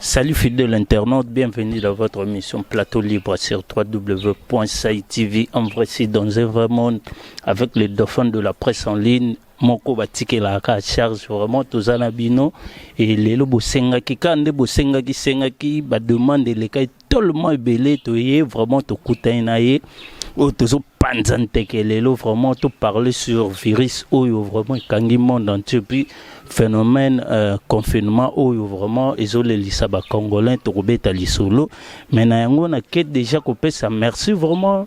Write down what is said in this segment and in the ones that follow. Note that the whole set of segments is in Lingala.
Salut fidèle internaute, bienvenue dans votre émission Plateau Libre sur www.saitv en vrai site dans un vrai monde avec les dauphins de la presse en ligne moko batikelaka charge vraiment toza na bino e lelo bosengaki ka nde bosengaki sengaki bademande elekaki tellement ebele toye vraiment tokutani na ye oyo tozopanza nteke lelo vraiment toparle sur virus oyo vraiment ekangi monde entier puis phénomène euh, confinement oyo vraiment ezolelisa bacongolais tokobeta lisolo mais na yango nake déjà kopesa merci vraiment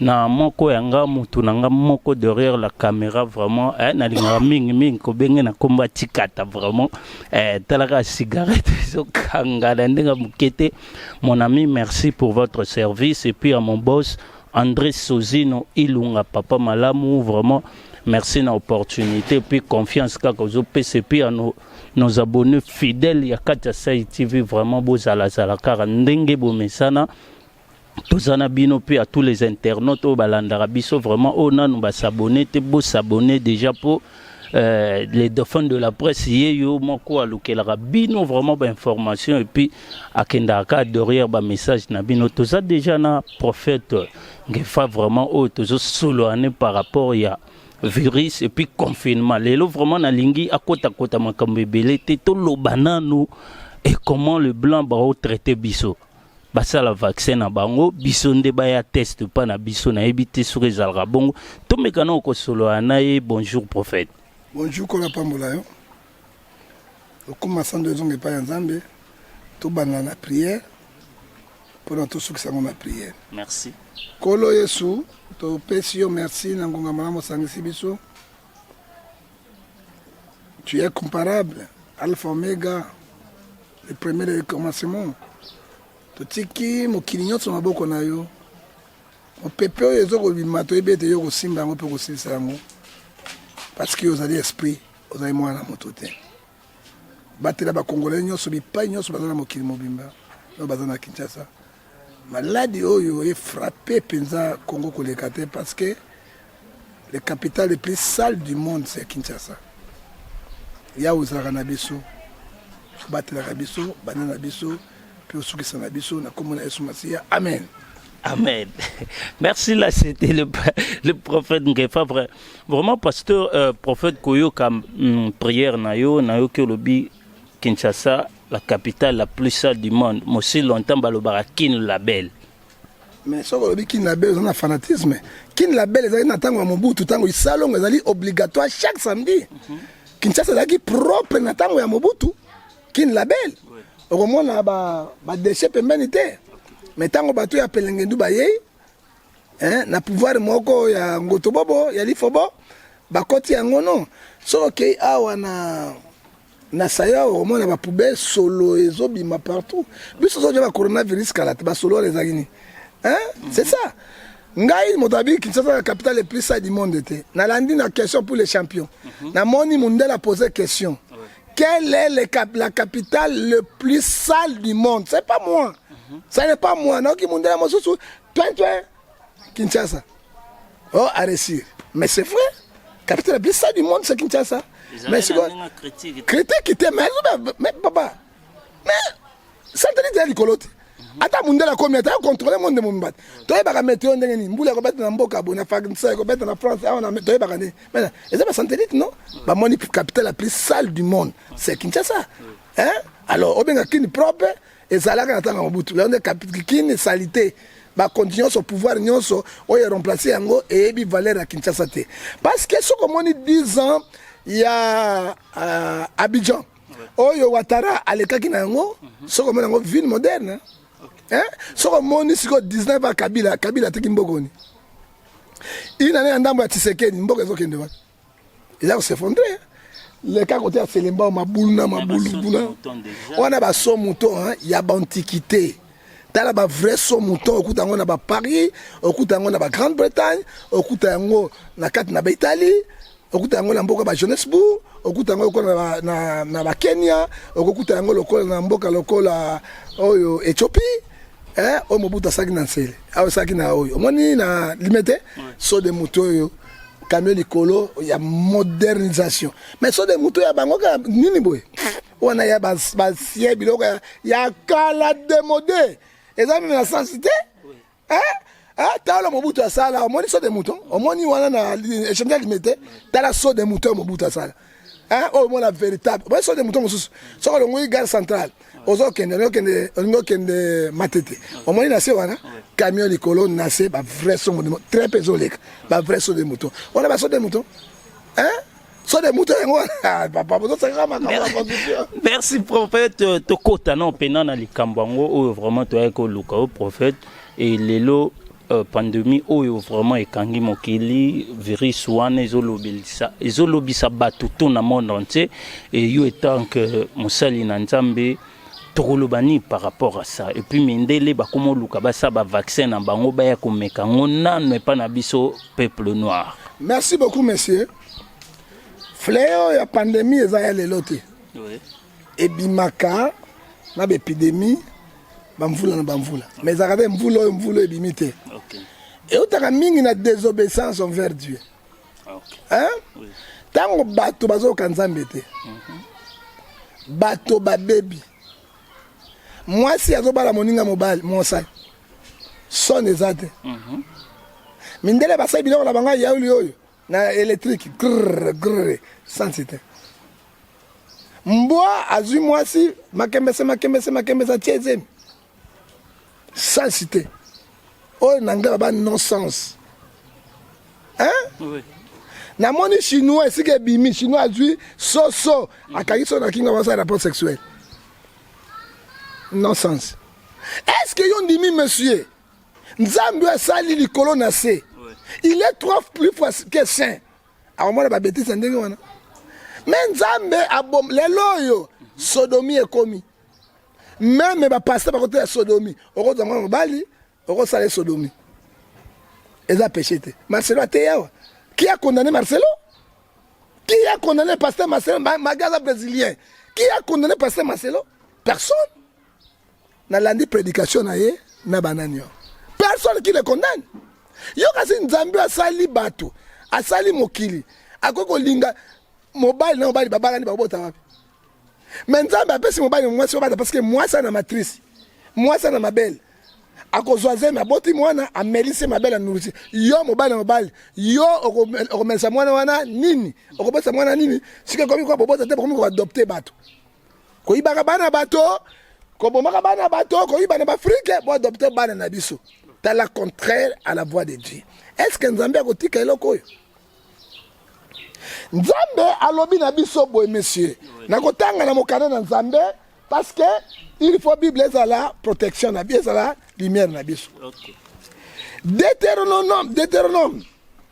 na moko ya nga mutu na nga moko derrière la camera vraiment eh, nalingaka mingi mingi kobenge na komba tikata vraiment eh, talaka cigarette ezokanga na ndenge moke te mon ami merci pour votre service et puis à mon boss André Sozino Ilunga papa malamu vraiment merci na opportunité et puis confiance kaka ozopesa et puis à nos nos abonnés fidèles ya kati ya Sai TV vraiment bozalazala kaka ndenge bomesana toza na bino mpe à tous les internautes oyo balandaka biso vraiment oyo nanu basabone te bosabone déjà mpo euh, les dauphins de la presse ye yo moko alukelaka bino vraiment bainformation epuis akendaka ka adoriere bamessage na bino toza déjà na prophète ngefa vraiment oyo tozosoloane par rapport ya virus epuis confinement lelo vraiment nalingi akotakota makambo ebele te toloba nanu et comment le blanc baotraite biso basala vaccin na bango biso nde baya test pa na biso nayebi te soki ezalaka bongo tomeka na okosolola na ye bonjour prophète bonjour kola pambola yo okoma sando ezonga epai ya nzambe tobanda na priere mpona tosukisa yango na priere merci nkolo yesu topesi yo merci na ngonga malamu osangisi biso tu es comparable alpha omega le premier de commencement totiki mokili nyonso maboko na yo mopepe oyo ezo kobima toyebi ete yo kosimba yango mpe kosilisa yango parce que ozali esprit ozali mwana na moto te batela bakongolai nyonso bipai nyonso baza na mokili mobimba oyo baza na kinshasa Maladi oyo e frapper penza Congo koleka te parce que le capital le plus sale du monde c'est Kinshasa. Ya ozalaka na biso, obatelaka biso, bana na biso, mpe osukisa na biso na kombo na Yesu Masiya. Amen. Amen. Merci là, c'était le, le prophète Ngefa. Vraiment, pasteur, euh, prophète Koyoka, hum, prière Nayo, Nayo Kolobi, Kinshasa, la capitale la plus sale du monde mosi longtemps balobaka kin label mais soki olobi kin label oza na fanatisme kin label ezalaki na ntango ya mobutu ntango isalongo ezali obligatoire chaque samedi mm -hmm. kinshasa ezalaki propre na ntango ya mobutu kin label okomona badeshe ba pembeni te mais ntango bato ya pelengendu bayei eh, na pouvoir moko ya ngotobobo ya lifobo bakoti yango no soki okei awa na na saya omona ba poubelle solo ezobima partout biso tozoja ba coronavirus kala te basolo wana ezalaki nini c'est ça ngai moto abi kinshasa na capital le plus du monde te nalandi na question pour les champions mhm. namoni mundela pose question ah quelle est le cap, la capitale le plus sale du monde c'est pas moi mhm. ça n'est pas moi naoki mundela mosusu Kinshasa. Oh, à réussir. Mais c'est vrai. Capitaine, bien ça du monde, c'est Kinshasa. Mais c'est quoi Critique, critique, mais mais papa. Mais ça te dit d'aller colote. ata mundele akomi ata contrôle monde de mombata toyebaka meteo ndenge nini mbula ekobeta na mboka bo na fagnsa ekobeta na france awa ah, toyebaka nini mana eza basantellite non bamoni capitale la plus sale du monde c'est kinshasa hein alors obenga kini propre ezalaka na ntango ya mobutu yango nde kapikini salite bakonti nyonso pouvoir nyonso oyo eremplace yango eyebi valeur ya kinshasa te parce que soki omoni 10 ans ya uh, abidjan oyo watara alekaki na yango soki omoni yango ville moderne hein? soki omoni sikoyo 19 ya kabila kabila ateki mbokoni inane ya ndambo ya tisekedi mboka ezokende wapi eza kosefondre leka kote ya selembao mabulu na mabulu kuna wana baso mouton ya baantiquité tala ba vrai so mouton okuta yango na baparis okuta yango na bagrande bretagne okuta yango na kati na baitalie okuta yango na mboka ba johannesbourg okuta yango lokola na, na bakenya okokuta yango lokola na mboka lokola oyo ethiopie eh, oyo mobutu asaki na nsele asalaki na oyo omoni na limete so de moto oyo camion likolo ya modernisation mais so de moto ya bango kaka nini boye wana ya basie biloko ya kala demode eza meme na sensi te tala mobutu asala omoni so de mouton omoni wana na echangea limete tala so de mouton mobutu asala oyo omona véritable omoni so de mouton mosusu soki olongoli gare centrale ozo kende ozo kende olingo kende matete omoni na se wana camion likolo na se ba vrai songo de très peu ezoleka ba vrai songo de moto wana ba songo de moto hein so de moto yango wana papa bozo sanga makambo ya constitution merci prophète euh, tokota na opena na likambo yango oyo vraiment toyaki koluka o prophète et lelo Euh, pandemie oyo vraiment ekangi mokili virus wana ezolobelisa ezolobisa bato to na monde entier et yo etant que mosali na nzambe tokoloba nini par rapport à ça et puis mindele bakoma oluka basala bavaccin na bango baya komeka yango nano epai na biso peuple noir merci beaucoup monsieur fleo ya pandemie eza ya lelo te ebimaka na ba epidemie bamvula na bamvula mais ezalaka te mvula oyo mvula ebimi te okay. eutaka mingi na désobéissance envers dieu okay. ntango oui. bato bazoyoka nzambe te mm -hmm. bato babebi mwasi azobala moninga mobali mosali sone eza te mm -hmm. mindele basali biloko na bango ya yauli oyo na electrique grrr grrr sans site mbwa azwi mwasi makembese makembese makembese atie ezemi sans site oyo na anglais baba no sens hein oui. namoni chinois esika ebimi chinois azwi soso akangi so na kinga basala rapport sexuel non sens est ce que yo ndimi monsieur nzambe asali likolo na se il est trois plus fois que saint akomona babetise ya ndenge wana me nzambe abom lelo oyo sodomi ekomi meme bapasta bakota ya sodomi okozwa mwana mobali okosala ye sodomi eza peche te marcelo ateyi awa ki a condamne marcelo ki a condamne pasteur marcelo magaza brésilien ki a condamne pasteur marcelo personne Nalandi predication na ye na banani yo. Personne qui le condamne. Yo kasi Nzambe asali bato, asali mokili, akoki kolinga mobali na mobali babalani bakobota wapi? Mais Nzambe apesi mobali na mwasi obata parce que mwasi ana matrice, mwasi ana mabele akozwa zemi aboti mwana amelisi mabele anulusi yo mobali na mobali yo okomelisa mwana wana nini okobotisa mwana nini sika ekomi koka bobota te bokomi koadopte bato koyibaka bana bato kobomaka bana bato koyiba na baafrike boadopte bana na biso tala contraire à la voix de dieu est ce que nzambe akotika eloko oyo nzambe alobi na biso boye monsieur nakotanga na mokanda na nzambe parce que il faut bible ezala protection na biso ezala lumière na biso okay. deuteronome deuteronome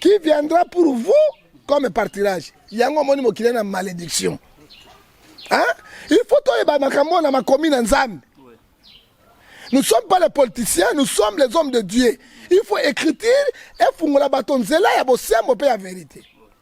qui viendra pour vous comme partirage yango omoni mokili na malédiction hein? il faut toyeba makambo na makomi na nzambe nous ne sommes pas les politiciens nous sommes les hommes de dieu il faut écriture efungola bato nzela ya bosembo mpe ya verité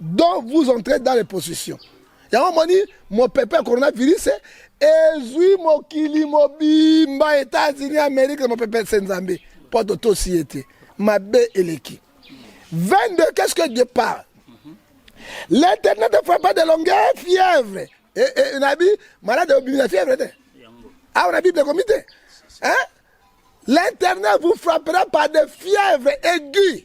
donc vous entrez dans les positions yango moni mopepe ya coronavirus ezwi mokili mobimba etats-unis amerika mopepe se nzambe mpo totosi ye te mabe eleki 22 qu'est-ce que dieu parle l'éternel ne fera pas de longueur fièvre eh, eh, nabi malade obimi na fièvre te awa na bible ekomi te hein? L'Éternel vous frappera par des fièvres aiguës.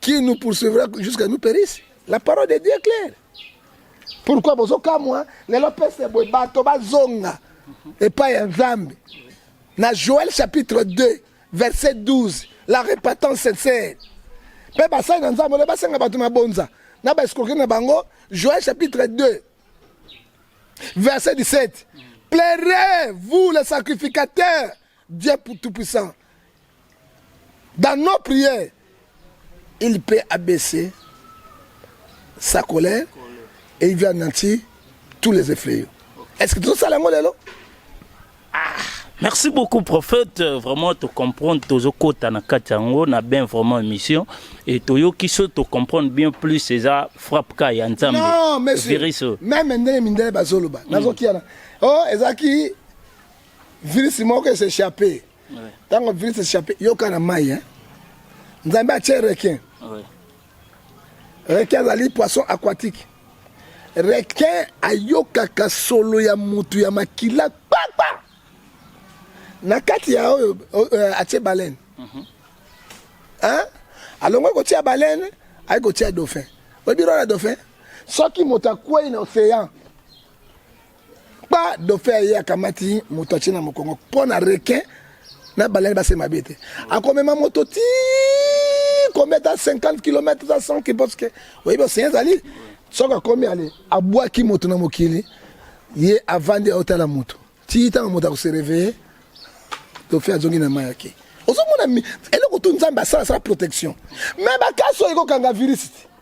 qui nous poursuivra jusqu'à nous périsse la parole de dieu est claire pourquoi bozokamwa lelo pese boye bato bazonga epai ya nzambe na joel chapitre 2 verset 12 la repentance sincère mpe basali na nzambe ole basenga bato mabonza na baescroke na bango joel chapitre 2 verset 17 pleurez vous les sacrificateurs Dieu tout puissant dans nos prières il peut abaisser sa colère et il vient nantir tous les effrayés est-ce que tozosala yango lelo ah, merci beaucoup prophète vraiment to comprendre tozokota na kati yango na bien vraiment émission et toyoki so to comprendre bien plus eza frappe ka ya nzambe non monsieur même ndenge mindele bazoloba mm. nazokiana oh ezalaki Virus moko ese échappé. Tango virus échappé yoka na mai hein. Nzambe atie requin. Oui. Requin azali poisson aquatique. Requin ayokaka solo ya mutu ya makila kpakpa. Na kati ya oyo euh, atie baleine. Mm -hmm. Hein? Alongwe kotia baleine, ayi kotia dauphin. Oyebi role ya dauphin? Soki moto akwei na océan pa dauphin aye akamati moto atie na mokongo mpo na requin na balani base mabe te akomema moto ti komi ata 50 km ata 100 km parce que oyebi osein ezali soki akomi ale abwaki moto na mokili ye avandi aotala moto ti ntango moto akosereveye dauphin azongi na mai yake ozomona eloko tu nzambe asala asala protection me bakasi oyo ekokanga virus te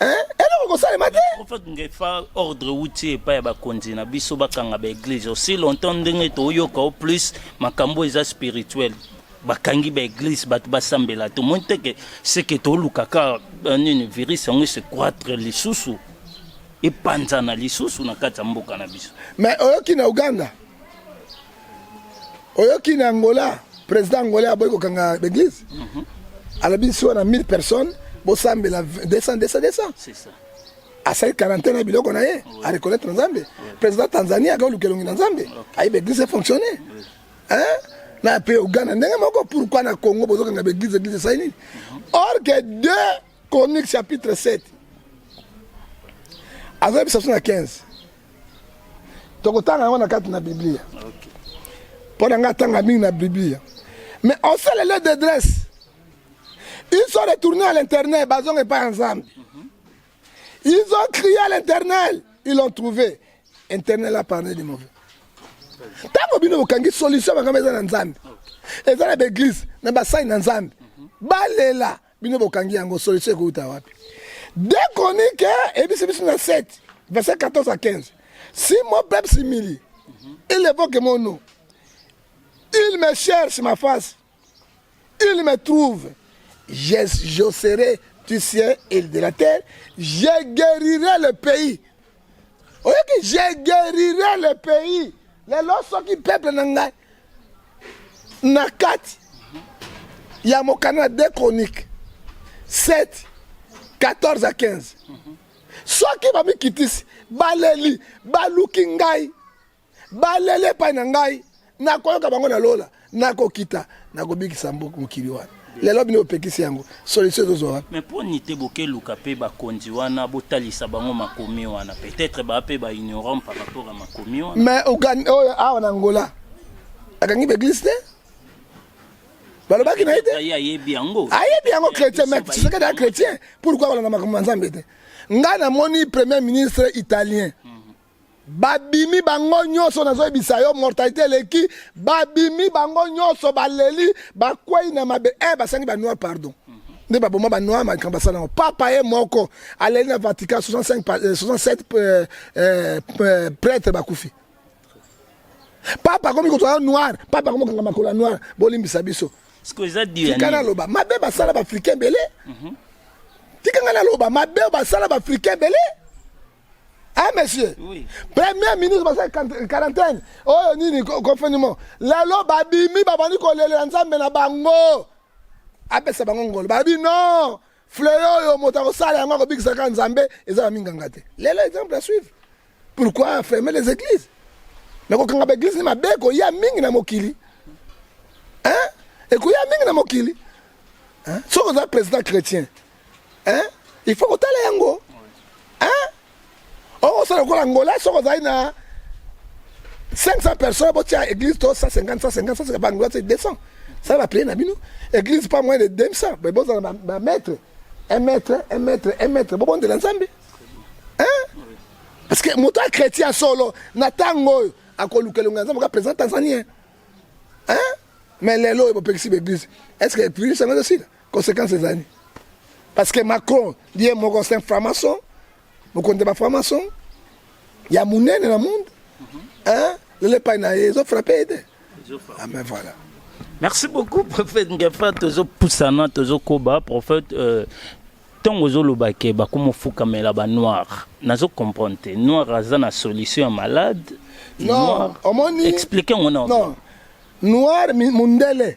eloko kosalema te prophète ngefa ordre wuti epai ya bakonzi na biso bakanga baeglise aussi longtemps ndenge toyoka o plus makambo eza spirituel bakangi baeglise bato basambela tomoni te ke seke tolukaka euh, nini virus yango ese croitre lisusu epanzana lisusu na kati ya mboka na biso mais oyoki na uganda oyoki na angola président angolais aboyi kokanga l'église mhm. alobi nsi wana 1000 personnes bosambela 200 200 200 asali quarantaine ya biloko na ye areconnaitre na nzambe président tanzanie aka oluka elongi na nzambe ayebi église efonctionne na mpe uganda ndenge moko pourkui na congo bozokanga baeglise église esali nini mhm. or que deux Chronique chapitre 7 azoyebisa biso na 15 tokotanga yango na kati na biblia mpo na ngai atanga mingi na biblia mais on sait les d'adresse ils sont retournés à l'internet bazonga epai ya nzambe ils ont crié à l'internet ils l'ont trouvé internet la parle de mauvais ntango bino bokangi solution makambo eza na nzambe eza na baeglise na basali na nzambe balela bino bokangi yango solution ekouta wapi de chronique ebisi biso na 7 verset 14 à 15 si mon peuple s'humilie il évoque mon nom il me cherche ma face il me trouve je, je serai du ciel et de la terre je guérirai le pays oyoki je guérirai le pays lelo soki peuple na ngai na kati ya mokanda de chronique 7 14 à 15 soki bamikitisi baleli baluki ngai baleli epai na ngai nakoyoka bango na lola nakokita nakobikisa mokili wana lelo bino bopekisi yango solution ezozwa wapi mais mpo nite bokeluka mpe bakonzi wana botalisa bango makomi wana peut-être baa mpe baignorant par rapport ya makomi wana mais oyo oh, awa na ngola akangi baeglise te balobaki na ye te ayebi yango ayebi yango chrétien mais tshisekedi ya chrétien pourquoi balanda makambo ma nzambe te ngai namoni premier ministre italien hmm. babimi bango nyonso nazoyebisa yo mortalité eleki babimi bango nyonso baleli bakwei na mabe eh, basangi banoir pardon nde baboma banoir makambo asala yango papa ye moko aleli na vatican 65, 67 euh, euh, euh, prêtre bakufi papa akomi kozala noir papa akomi kokanga makolo ya noir bolimbisa biso tika naloba mabe basala baafricain ebele mhm. tika ngai naloba mabe basala baafricain ebele Hein, monsieur oui. Premier ministre basali quarantaine oyo nini confinement lelo babimi babandi kolelela nzambe na bango apesa bango ngolo babi non fleo oyo moto akosala yango akobikisa kaka nzambe eza na minganga te lelo exemple à suivre pourquoi fermer les églises mais kokanga baeglise ni mabe ekoya mingi na mokili hein? ekoya mingi na mokili hein? soki oza président chrétien hein il faut kotala yango hein okosala lokola angola soki ozali na 500 personnes botia église to 150 150 150 bangola te 200 sala baplie na bino église pas moins de 200 mais bozala bamaître un maître un maître un maître bobondela nzambe hein parce que moto ya chrétien solo na ntango oyo akoluka elongo ya nzambe oka président tanzanien hein mais lelo oyo bopekisi baeglise est ce que epuise yango ezosila Conséquence ezali parce que Macron ye moko c'est un franc-maçon mokonzi ya bafranc-maçon ya monene na monde hein lelo epai na ye ezofrappe ye te ah ben voilà merci beaucoup prophète ngefa tozopusana tozokoba prophète euh, ntongo ozoloba ke bakoma ofukamela banoir nazo comprendre te noir aza na solution ya malade non omoni explique yango na noir mundele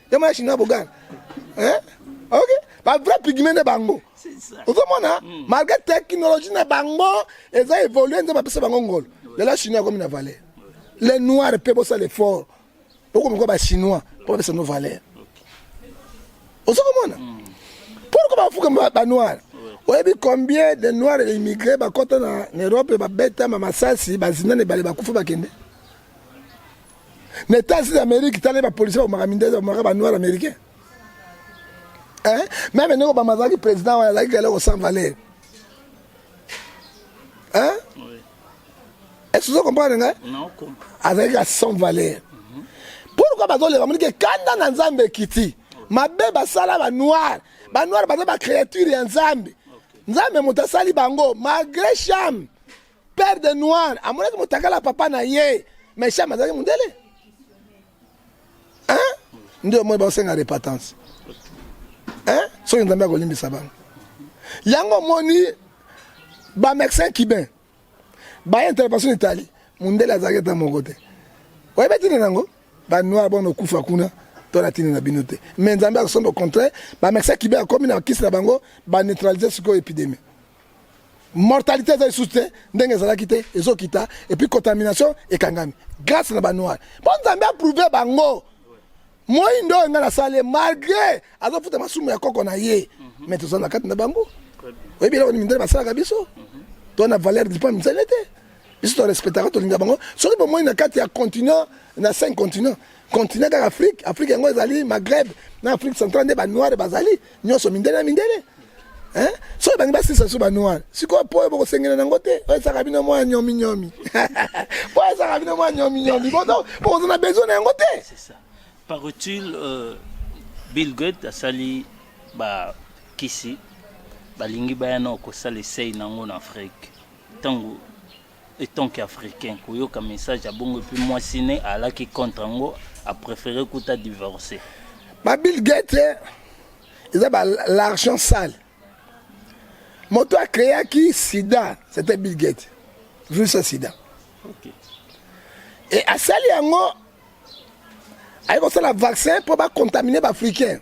ya mwana chinois bogana eh? ok ba vrai pigment na bango ozomona hmm. malgré technologie na bango eza évolue nzambe apesa bango ngolo lelo chinois akomi na valeur les noirs mpe bosala effort bokomikoa bachinois mpo bapesa no valeur ozo komona hmm. pourkoi bafuka banoir oyebi combien de noir immigré bakota na europe babetama masasi bazinana ebale bakufa bakende na etats unis amerique tala bapolisi bakomaka mindele bakomaka banoir américain meme ndenge obama azalaki président wana azalaki eloko sans valeur est-ce ozo comprendre ngai azalaki ka sans valeur mhm. pourquoi bazoleka moniki ekanda na nzambe ekiti mabe basala banoir banoir baza bacréature ya nzambe nzambe moto asali bango malgré chame père de noir amonaki motakala papa na ye mais sham azalaki mondele hein ndio moi baosenga repentance hein soki nzambe akolimbisa bango yango omoni bamédecin cubain baye intervention etali mondele azalaki ata moko te oyebi ntina nango banoir bona okufa kuna to na ntina na bino te mais nzambe akosomba au contraire bamédecin cubain akomi na kisi na bango baneutralise sikoyo épidémie mortalité eza lisusu te ndenge ezalaki te ezokita epuis contamination ekangami grâce na banoir mpo nzambe aprouve bango moindo oyo ngai nasali ye malgré azofuta masumu ya koko na ye mhm. mais tozala na kati na bango oyebi eloko ni mindele basalaka biso mhm. to na valeur dipa mindele te biso torespectaka tolinga bango soki bomoni na kati ya continent na cinq continent continent kaka afrique afrique yango ezali maghreb na afrique centrale nde banoire bazali nyonso mindele na mindele eh? soki bangi basilisa so banoir sikoyo mpo oyo bokosengela nango te oyo esaka bino mwa nyomi nyomi mpo oyo esaka bino mwa nyomi nyomi bokoza na besoin na yango te paraît-il euh, bill gate asali bakisi balingi baya na kosala esei nango na afrique ntango Etant que africain koyoka message ya bongo epuis mwasi ne alaki contre yango a prefere kuta divorce. Ba Bill Gates eh, eza ba l'argent sale. Moto a créaki sida, c'était Bill Gates. Virus ya sida. Okay. Et asali yango aye kosala vaccin mpo bacontamine baafricain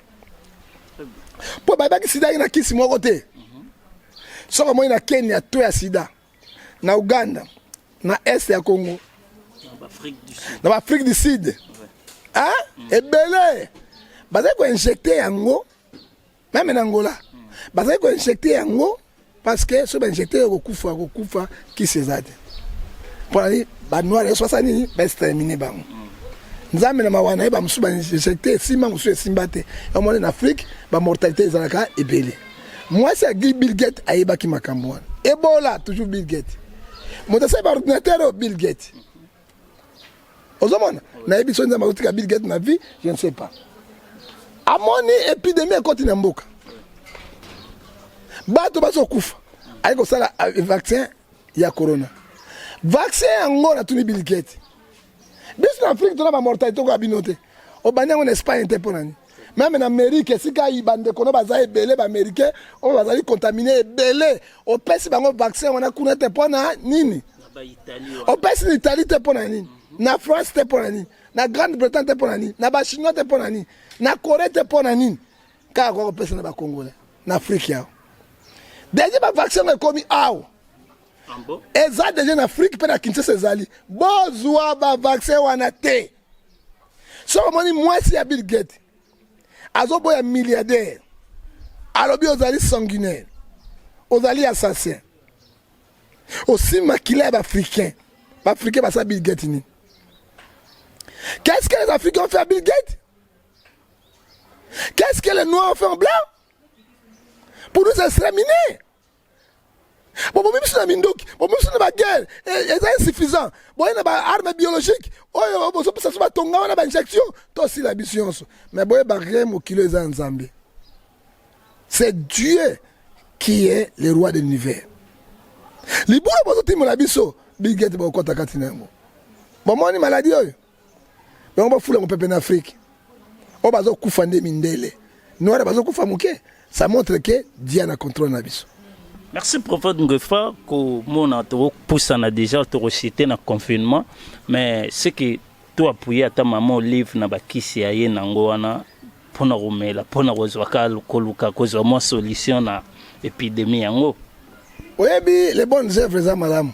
mpo bayebaki sida ye na kisi moko te mhm. soki omoni na kenya to ya sida na Ouganda, na Est ya Congo, na ba Afrique du Sud, hein? Mm. Ebele bazali ko injecter yango meme na Angola, mm. bazali ko injecter yango parce que soki ba injecter yo kokufa kokufa kisi eza te mpo na nini ba noir nyonso basala nini ba exterminer bango mm. nzambe na mawa na ye bamosusu ba injecter esimba mosusu esimba te yamoni na afrique ba mortalité ezalaka ebele Mwasi ya Bill Gates ayebaki makambo wana. Ebola toujours Bill Gates. Moto asali ba ordinateur oyo Bill Gates. Ozomona? Nayebi soki nzambe akotika Bill Gates na vie, je ne sais pas. Amoni epidemie ekoti na mboka. Bato bazokufa. Aye kosala eh, vaccin ya corona. Vaccin yango natuni Bill Gates. biso na afrique tona bamortalité okoya bino te obandi yango na espagne te mpo na nini meme na amerike esika bandeko no baza ebele baamericain oyo bazali contamine ebele opesi bango vaccin wana kuna te mpo na nini opesi na italie te mpo na nini na france te mpo na nini na grande bretagne te mpo na nini na bachinois te mpo na nini na corée te mpo na nini kaka kwa kopesa na bacongolais na afrike yao deja bavaccin oyo ekomi awa eza deja na afrike mpe na kinshasa ezali bozwa bavaccin wana te soki omoni mwasi ya bill gate azoboya milliardaire alobi ozali sanguinaire ozali assassin osi makila ya baafricain baafricain basala bill gate nini qu'est ce que les africains ont fait à bill gate qu'est ce que les noirs ont fait en blanc pour nous exterminer bobomi biso na minduki bobomi biso na baguerre eh, eza insuffisant boye na baarme biologique oyo bozopesa biso batonga wana bainjection tosila biso nyonso mais boyeba rien mokili eza ya nzambe c'est dieu qui est le roi de l'univers libula bozotimola biso bigete bokota kati na yango bomoni maladi oyo bango bafula yango pepe na afrike oyo bazokufa nde mindele noire bazokufa moke ça montre ke dia na contrôle na biso merci prophète ngefa komona tokopusana déjà tokosite na confinement mais ce que to appuye ata mama olive na bakisi ya ye nango wana mpo na komela mpo na kozwa ka koluka kozwa mwa solution na epidemie yango oyebi les bonnes œuvres eza malamu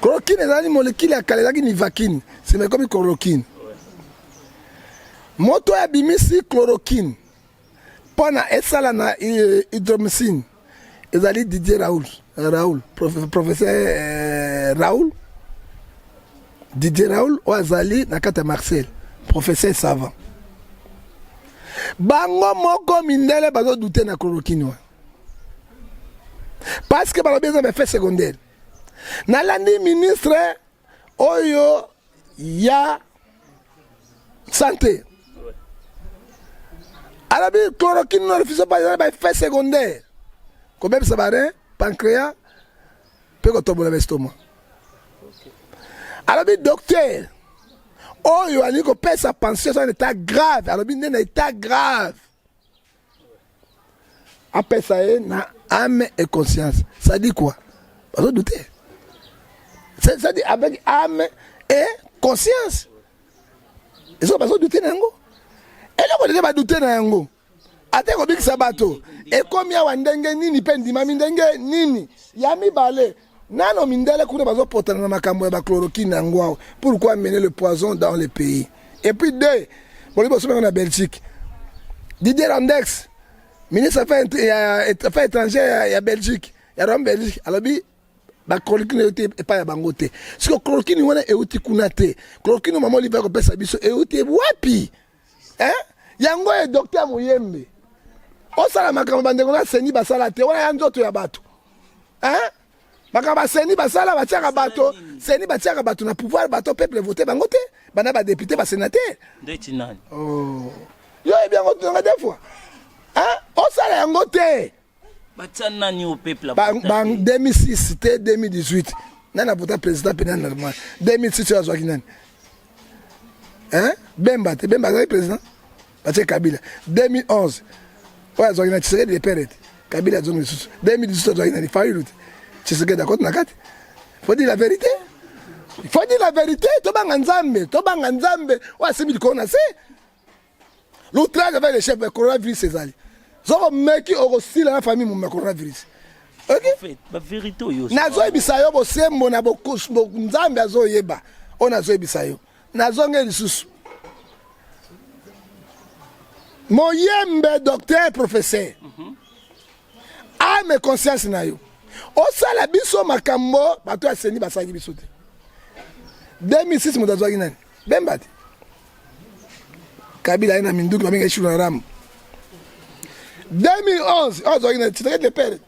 Chloroquine ezalaki molekile ya kala, ezalaki nivaquine, nsima ekomi chloroquine. Moto oyo abimisi chloroquine mpo na esala na eh, hydromycine ezali Didier Raoul, eh, Raoul professeur eh, Raoul Didier Raoul oyo azali na kati ya Marseille, professeur savant. Bango moko mindele bazodute na chloroquine wana. parce que balobi eza effet secondaire nalandi ministre oyo ya sante alobi chloroquine na refuse pas eza ba effet secondaire kobebisa barin pancréa mpe kotobola bestoma alobi docteur oyo alingi kopesa pension eza na etat grave alobi nde na etat grave apesa ye na ame et conscience ça dit quoi bazo doute ça dit avec ame et conscience ezo bazo doute na yango eloko nini badoute na yango ata ekobikisa bato ekomi awa ndenge nini mpe ndimami ndenge nini ya mibale Nano mindele kuna bazo potana na makambo ya ba chloroquine na ngwao. Pourquoi amener le poison dans le pays? Et puis deux, bolibi osomeka na Belgique. Didier Landex, ministre affaires ya affaires étrangères ya Belgique, ya Rome Belgique, alobi ba chloroquine euti epai ya bango te. Siko chloroquine wana euti kuna te. Chloroquine mama olive akopesa biso euti wapi? eh? yango ye docteur moyembe osala makambo bandeko na seni basala te wana ya nzoto ya bato eh? makambo baseni basala batiaka bato seni batiaka bato na pouvoir bato peuple vote bango te bana badepute basenatere oh. yo oyebi yango tunanga de fois osala yango te batia nani au peuple ba 2006 te 2018 nani apota président pena normal 2006 oyo azwaki nani hein bemba te bemba azalaki président batie kabila 2011 oyo azwaki na tshisekedi de pere te kabila azongi lisusu 2018 azwaki nani fayulu te tshisekedi akoti na kati faut dire la vérité faut dire la vérité tobanga nzambe tobanga nzambe oyo asimbi likolo na se L'outrage avec le chef, mais coronavirus ezali. Zoko meki okosila na famille mumba coronavirus. Okay? nazoyebisa yo bosembo na nzambe azoyeba oyo nazoyebisa yo nazonge lisusu moyembe docteur professeur mm -hmm. ame conscience na yo osala biso makambo bato ya seni basalaki biso te 2006 moto azwaki nani Bemba te. Kabila aye na minduki babenga ye Shiluna Ramu. 2011 oyo azwaki na titre de pere.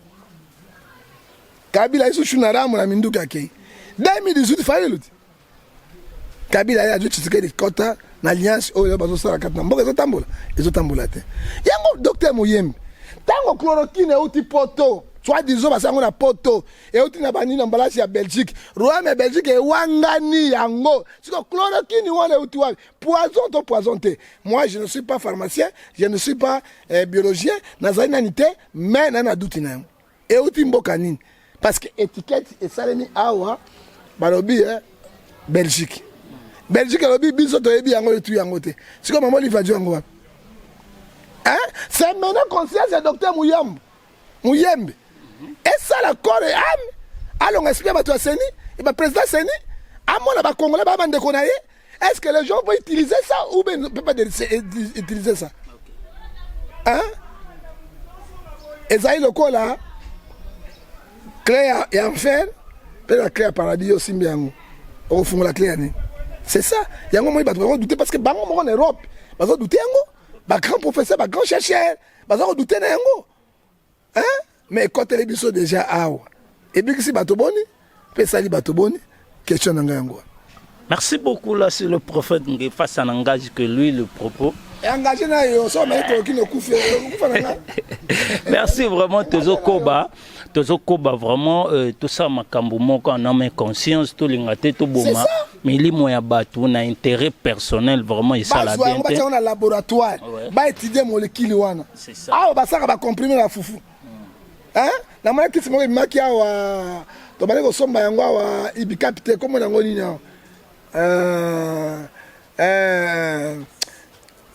Kabila aye so Shiluna Ramu na minduki akei. 2018 Fayulu te. Kabila aye azwi titre de kota na alliance oyo bazosala kati na mboka ezotambola ezotambola te. Yango docteur Moyembe ntango chloroquine euti poto soit disant basi yango na poto euti na bani na mbalasi ya belgique royaume ya belgique ewangani yango siko chloroquine wana euti wapi poison to poison te moi je ne suis pas pharmacien je ne suis pas eh, biologien nazali nani te mais nani aduti na yango euti mboka nini parce que étiquette esalemi awa balobi eh, belgique belgique alobi biso toyebi yango etu yango te siko mama olive ajo yango wapi eh? c'est maintenant conscience ya docteur muyambo muyembe esala corps et âme alonga esprit ya bato ya seni et ba président seni amona ba congolais ba bandeko na ye est-ce que les gens vont utiliser ça ou bien ne peut pas utiliser ça hein ezali lokola clé ya, ya enfer mpe na clé ya paradis yo osimbi yango okofungola clé ya nini c'est ça yango moi bato bakodute parce que bango moko na europe bazodute yango bagrand professeur bagrand chercheur baza kodute na yango hein? mais ekoteli biso deja awa ebikisi bato boni mpe esali bato boni question na ngai yango wana Merci beaucoup là c'est le prophète Ngefa ça n'engage que lui le propos. Engagé na yo so mais ko kino kufa kufa na nga. Merci vraiment Tezo Koba. tozokoba vraiment euh, tosala makambo moko en ame conscience tolinga te toboma milimo ya bato na intérêt personnel vraiment esala bien te na laboratoire ba étudier molécule wana awa basaka ba comprimer la fufu mm. hein na mona kisi moko ebimaki awa tobandi kosomba yango awa ibikapi te kombo na yango nini awa euh, euh,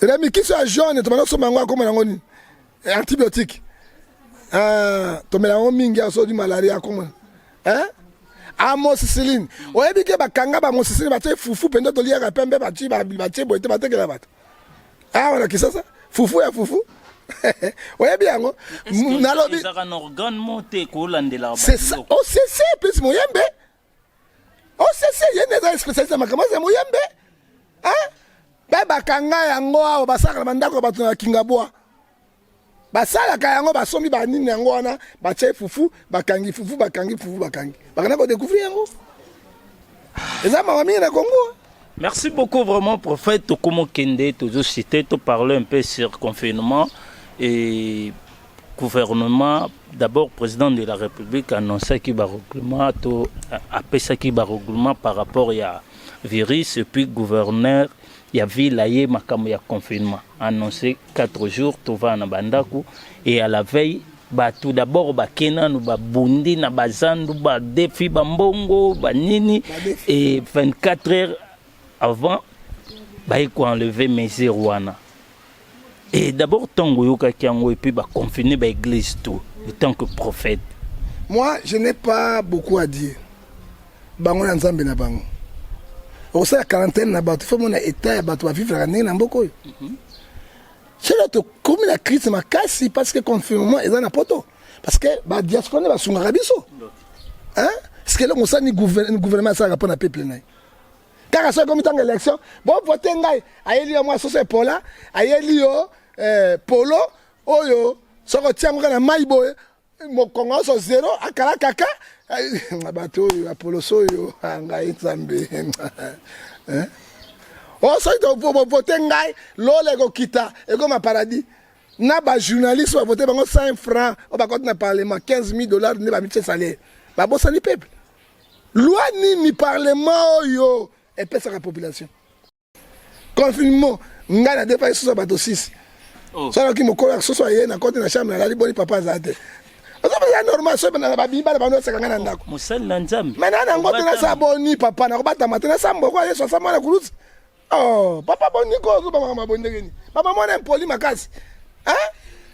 remi kisi ya jaune tobandi kosomba yango akombo na yango nini eh, antibiotique eh, tomela yango mingi asodi malaria akoma eh? amosisiline ah, oyebi ke bakanga bamosisiline batye fufu mpenza toliyaka pembe batyi batye boye te batekela bato awa ah, na kisasa fufu ya fufu oyebi yango nalobi c'est ça aussi c'est plus moyembe osese oh, ye nde eza spécialiste ya makambo aza moyembe mpe bakanga yango awa basalaka na bandako ya bato na kingabwa basalaka yango basombi banini yango wana batye fufu bakangi fufu bakangi fufu bakangi bakenda kodecouvrir yango eza mawa mingi na kongo merci beaucoup vraiment prophète tokomokende tozosite toparle un peu sur confinement et gouvernement d'abord président de la république annoncaki ba règlement to apesaki ba règlement par rapport ya virus et puis gouverneur ya ville aye makambo ya confinement annoncé 4 jours tovaa na bandako et à la veille bato d'abord bake nanu babundi na bazandu badefi bambongo banini et 24 heures avant baye ko enlever mesure wana et d'abord ntango oyokaki yango epuis baconfine baeglise tout autant que prophète moi je n'ai pas beaucoup à dire bango na nzambe na bango okosala quarantaine na bato fo mona etat ya bato bavivraka ndenge na mboka oyo mhm. solo tokomi na crise makasi parce que confinement eza na poto parce que badiaspora nde basungaka biso ceque eloko osala ni gouvernement asalaka mpo na peuple na ye kaka soki ekomi ntango élection bovote ngai ayeli yo mwa soso epola ayeli yo eh, polo oyo soki otia yango kaka na mai boye mokongo nyonso zero akala kaka eh, bato oyo ya poloso oyo ah, ngai nzambe eh? o oh, soki bovote ngai lola ekokita ekoma paradis na bajournaliste bavote bango 5 franc oyo bakoti na parlement 15 000 dollars nde bamitie salaire babosani peuple Loi nini parlement oyo epesaka population confinement ngai na depaki soso bato 6 oh. soki mokolo ya soso aye na kote na chambre nalali boni papa azala te ozopesa normal soki na babiyi bana bano oseka ngai na ndako mosali na nzambe mai na nango te nasala boni papa nakobatama te nasamboko yesu asambwa na kulusi Oh, papa boni ko ozo banga mabondeke ni. Papa mwana impoli makasi. Hein?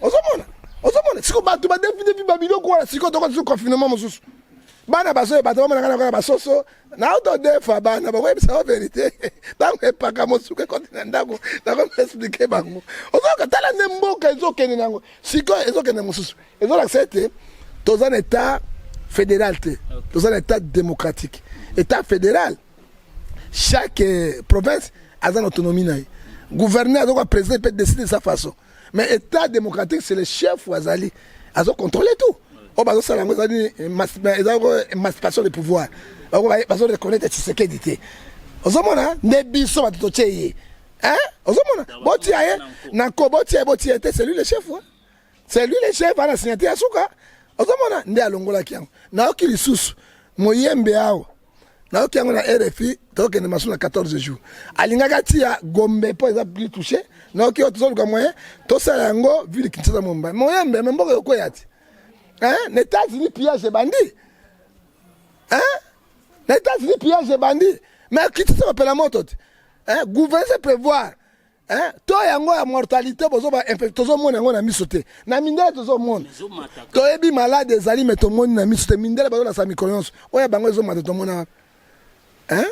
Ozo mona? Ozo mona? Siko bato ba defi defi ba biloko wana siko toko tsu confinement mosusu. Bana bazo bato ba mona kana basoso. Na auto defa bana ba webisa ba verite. Tango epaka mosuke kote na ndako na ko expliquer bango. Ozo ka tala ne mboka ezo kende nango. Siko ezo kende mosusu. Ezo la sete toza na état fédéral te. Toza na état démocratique. État fédéral chaque euh, province a une autonomie na gouverneur azoka président peut décider de sa façon mais état démocratique c'est le chef ou azali azo contrôler tout oyo bazosala yango ezali eza émancipation de pouvoir bazo reconnaître tshisekedi te ozomona nde biso bato totie ye ozomona botia ye na ko botia ye botia ye te c'est lui le chef c'est lui le chef ana signature ya suka ozomona nde alongolaki yango nayoki lisusu moyembe awa nayoki yango na rfi tokende masu na 14 jours alingaka tia gombe mpo eza plus touche nayoki oyo tozoluka moyen tosala yango ville kinshasa momba moyembe me mboka yokoya ti na états-unis pillage ebandi na états-unis pillage ebandi me kinshasa bapela moto te gouvernance prévoir Eh, to yango ya mortalité bozoba tozomona yango na miso te na mindele tozomona toyebi malade ezali me tomoni na miso te mindele bazolasa mikolo nyonso oyo bango ezomata tomona wapi eh?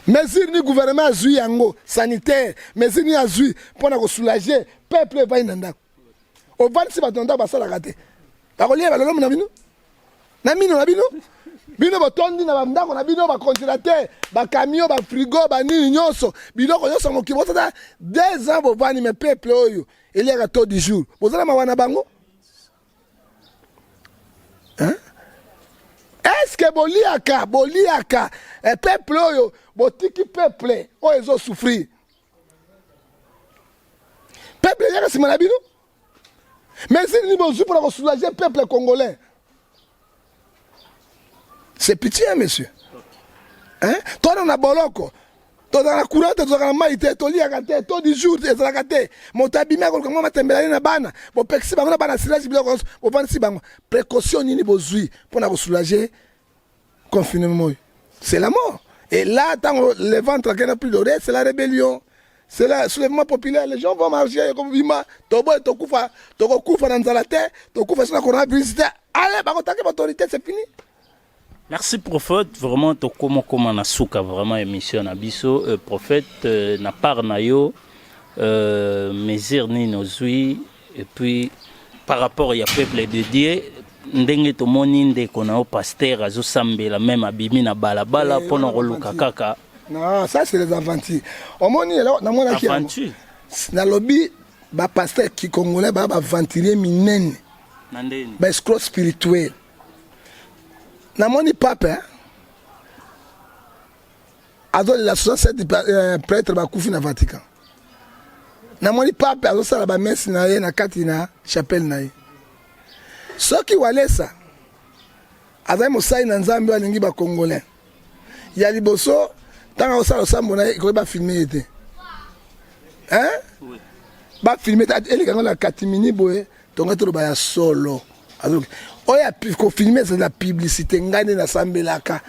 mesure ni gouvernement azwi yango sanitaire mesure ni azwi mpo na kosoulage peuple epai na ndako ovandisi bato na ndako basalaka te bakolia balolomi na bino na mino na bino bino botondi na bandako na bino bacongelateur bacamio bafrigo banini nyonso biloko nyonso mokili bosata deux ans bovandi me peuple oyo eliaka to du jour bozala mawa na bango estce boliaka boliaka eh, peuple oyo botiki peuple oyo ezosouffrir peuple eyaka nsima na bino mesure nini bozwi mpona kosoulage peuple congolais c'est pitié hein, monsieur hein? tona na boloko tozalaka na courant te tozalaka na mai te toliaka te to du jour ezalaka te moto abimi akoluka mwa matembela ye na bana bopekisi bango na bana silage biloko nyonso bovandisi bango précaution nini bozwi mpo na kosoulage Confinement oyo c'est la mort. Et là, tant le ventre qui n'a plus de c'est la rébellion. C'est le soulèvement populaire. Les gens vont marcher comme Vima, Tobo et Tokufa, Toko Kufa dans la terre, Tokufa sur la coronavirus. Allez, bah, attaquer l'autorité, c'est fini. Merci prophète, vraiment tokoma koma na suka vraiment émission na biso euh, prophète euh, na part na yo euh, mesure nini ozui Et puis par rapport ya peuple de Dieu ndenge tomoni ndeko na yo pasteur azosambela meme abimi na balabala eh, mpona koluka kaka ah, ça c'est les aventures omoni eloko namonaki aventure nalobi bapasteur kikongolais baa baventurier minene baescro spirituel namoni pape hein? azolela 67 euh, pretre bakufi na vatican namoni pape azosala bamese na ye na kati na chapelle na ye soki walesa azali mosali na nzambe alingi bacongolais ya liboso ntango akosala losambo na ye ekoki bafilme ye te bafilme te elekanga na katimini boye tonga toloba ya solo oyo kofilme ezali na publicité ngai nde nasambelaka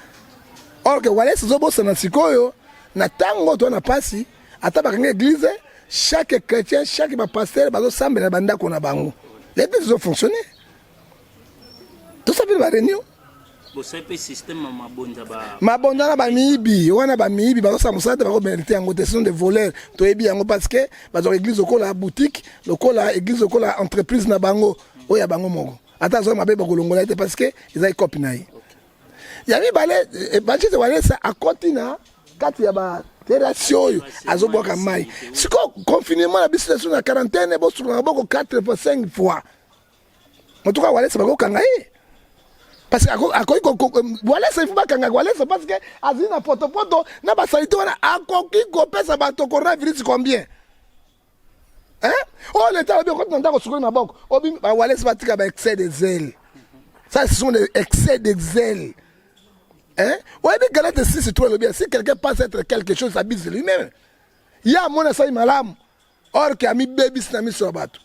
or ke wales ezobosana sikoyo na ntango to na mpasi ata bakanga eglize chaque chrétien chaque bapastere bazosambela na bandako na bango l'église ezofonctionne tosambeli bareunion mabonza na bamiyibi wana bamiyibi bazosala mosala te bakobenalite yango te sinon de voleur toyebi yango parce que bazwaka église lokola boutique lokola église lokola entreprise na bango oyo ya bango moko ata azwaki mabe bakolongola ye te parce que eza ekopi na ye ya mibale eh, bachise walesa akoti na kati ya ba terasi oyo azobwaka mai sikoyo confinement na biso na quarantaine bosulaka boko 4 fois 5 fois moto ka walesa bakokanga ye eh. parce que akoki walesa ifu bakanga walesa parce que azali na potopoto na basalite wana akoki kopesa bato coronavirus combien oyo oh, leta alobi okoti na ndako osukoli maboko obimi bawalesa batika ba excès de zele ça ce sont des excès de zele Hein? oyebi galate 6 to elobi si quelqu'un pense être quelque chose abise lui-même ye amoni asali malamu or ke amibebisi na miso ya bato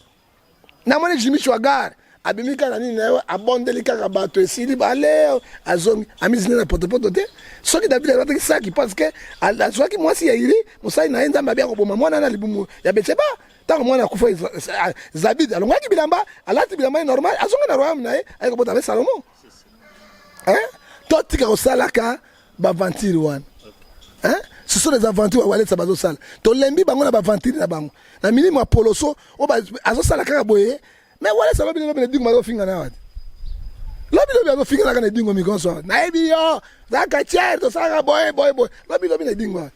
namoni jimi shwagar abimi kaka nini na yo abondeli kaka bato esili bale azongi amizini na potopoto te soki david alataki saki parce que azwaki mwasi ya iri mosali na ye nzambe abi akoboma mwana na libumu ya betseba ntango mwana akufa zabid alongaki bilamba alati bilamba ye normal azongi na royaume na ye aye kobota na ye salomo totika kosalaka ba aventure wana hein ce sont des aventures ya walesa bazosala tolembi bango na baaventure na bango na milimo ya poloso oyo azosala kaka boye me walesa lobi lobi na dingo bazofinga na wati lobi lobi azofinga kaka na dingo mikonso nayebi yo zaka tiere tosalaka boye boye boye lobi lobi na dingo wati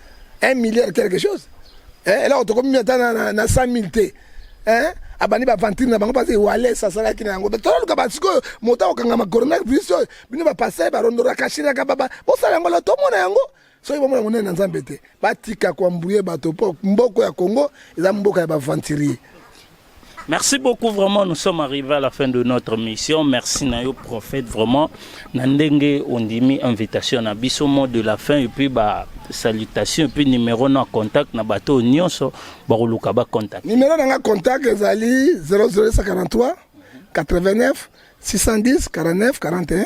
1 milliard quelque chose eh, eloko tokomi ata na, na, na 100 000 te eh? abandi baventure na bango mpasi wales asalaki na yango toluka basikoyo moto akokangama coronavirus oyo bino bapasai barondoraka shiraka baba bosala yango la tomona yango soki bomona monene na nzambe te batika koambuye bato mpo mboko ya congo eza mboka ya baventurier Merci beaucoup vraiment nous sommes arrivés à la fin de notre mission merci na yo prophète vraiment na ndenge ondimi invitation na biso mot de la fin et puis ba salutation et puis numéro na contact na bateau nyonso bakoluka ba contact numéro na nga contact ezali 00143 89 610 49 41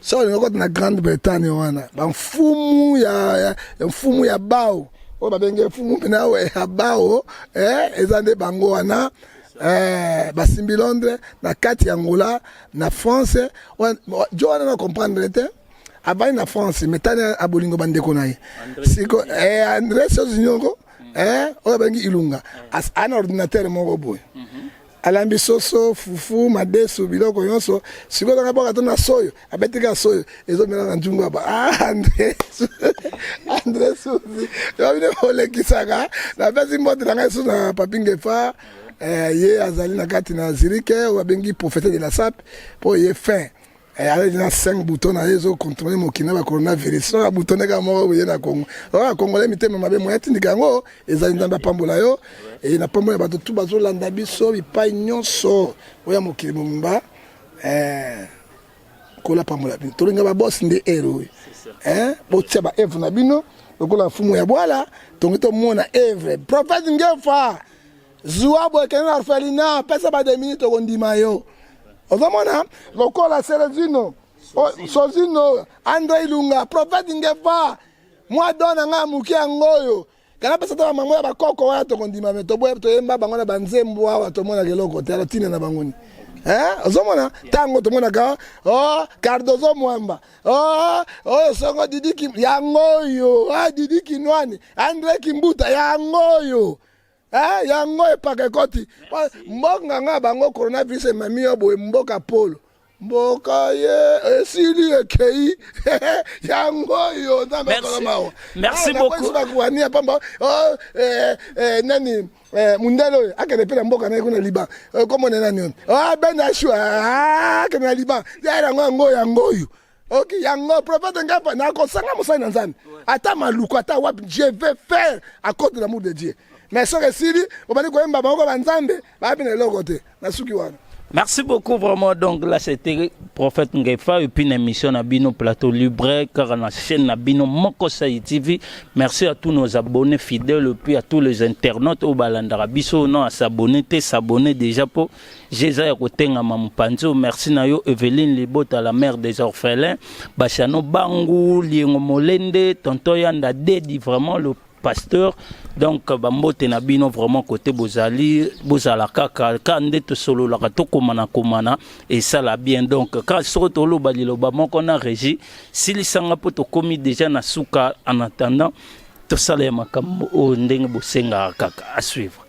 soko olingi okota na grande bretagne wana bamfumu ya, ya, ya mfumu ya bao oyo babenge mfumu mpena ya bao eh, eza nde bango wana eh, basimbi londres na kati ya angola na france jo wana na comprendre te avandi na france metani abolingo bandeko na ye siko eh, andres ozinyongo eh, oyo abengi ilunga ana ordinateur moko boye mm -hmm. alambi soso fufu madesu biloko nyonso sikoyo nanga bwaka to na soyo abetika soyo ezomela na njungu aba ah, andre andre suzi yobine olekisaka napesi mbote na ngai susu na papingefa eh, ye azali na kati na zirike oyo abengi profete de la sape mpo ye fin Eh, alaki na 5 bouton na ye ezo controle mokili na ba coronavirus soki abutone kaka moko boye na kongo oa kongole mitema mabe moya tindika yango ezali nzambe apambola yo e eh, na pambo ya bato tu bazolanda biso bipai nyonso oya mokili mobimba eh, kola pambola bino tolinga babosi nde ere oyo botia ba evre na bino lokola mfumu ya bwala tongi tomona evre prophète ngefa zua boye kende na orphelina pesa ba demini tokondima yo ozomona lokola serezino sozino andre ilunga profete ngefa mwa do na ngai ya moke yango oyo kana pesa ta bamango ya bakoko wana tokondima me toyemba bango na banzembo awa tomonaka eloko te alotina na bango ni Eh, ozomona ntango tomonaka o oh, cardozo mwamba o oh, oyo oh, songo didi yango oyo a ah, didi kinwani andre kimbuta yango oyo Eh, yango epaka ekoti mbonga nga bango coronavirus emami yo boye mboka polo mboka ye esili ekei yango oyo nzambe akolo mawa merci ah, beaucoup bakuani ya pamba oh, eh, eh, nani eh, mundele oyo akende mpe na mboka naye kuna liban komona nani oyo oh, ben ashua ah, akende na liban yango yango oyo ok yango prophète ngai mpa nakosanga mosali na nzambe ata maluku ata wapi je vais faire à cause de l'amour de dieu mais soki esili obandi koyemba bango banzambe bayebi na eloko te nasuki wana Merci beaucoup vraiment. Donc là, c'était Prophète Ngefa et puis une émission na Bino Plateau Libre, car on a chaîne na Bino Moko TV. Merci à tous nos abonnés fidèles et puis à tous les internautes au Balandarabiso. Non, à s'abonner, t'es s'abonner déjà pour Jeza ya kotengama mupanzo merci na yo Eveline Libota la mère des orphelins Bashano Bangu Liengo Molende Tonton Yanda Dedi vraiment le pasteur donc bambote na bino vraiment kote bozali bozala kaka ka nde tosololaka tokomana komana esala bien donc ka soko toloba liloba moko na régie silisanga mpo tokomi déjà na suka en attendant tosala ya makambo oyo ndenge bosengaka kaka à suivre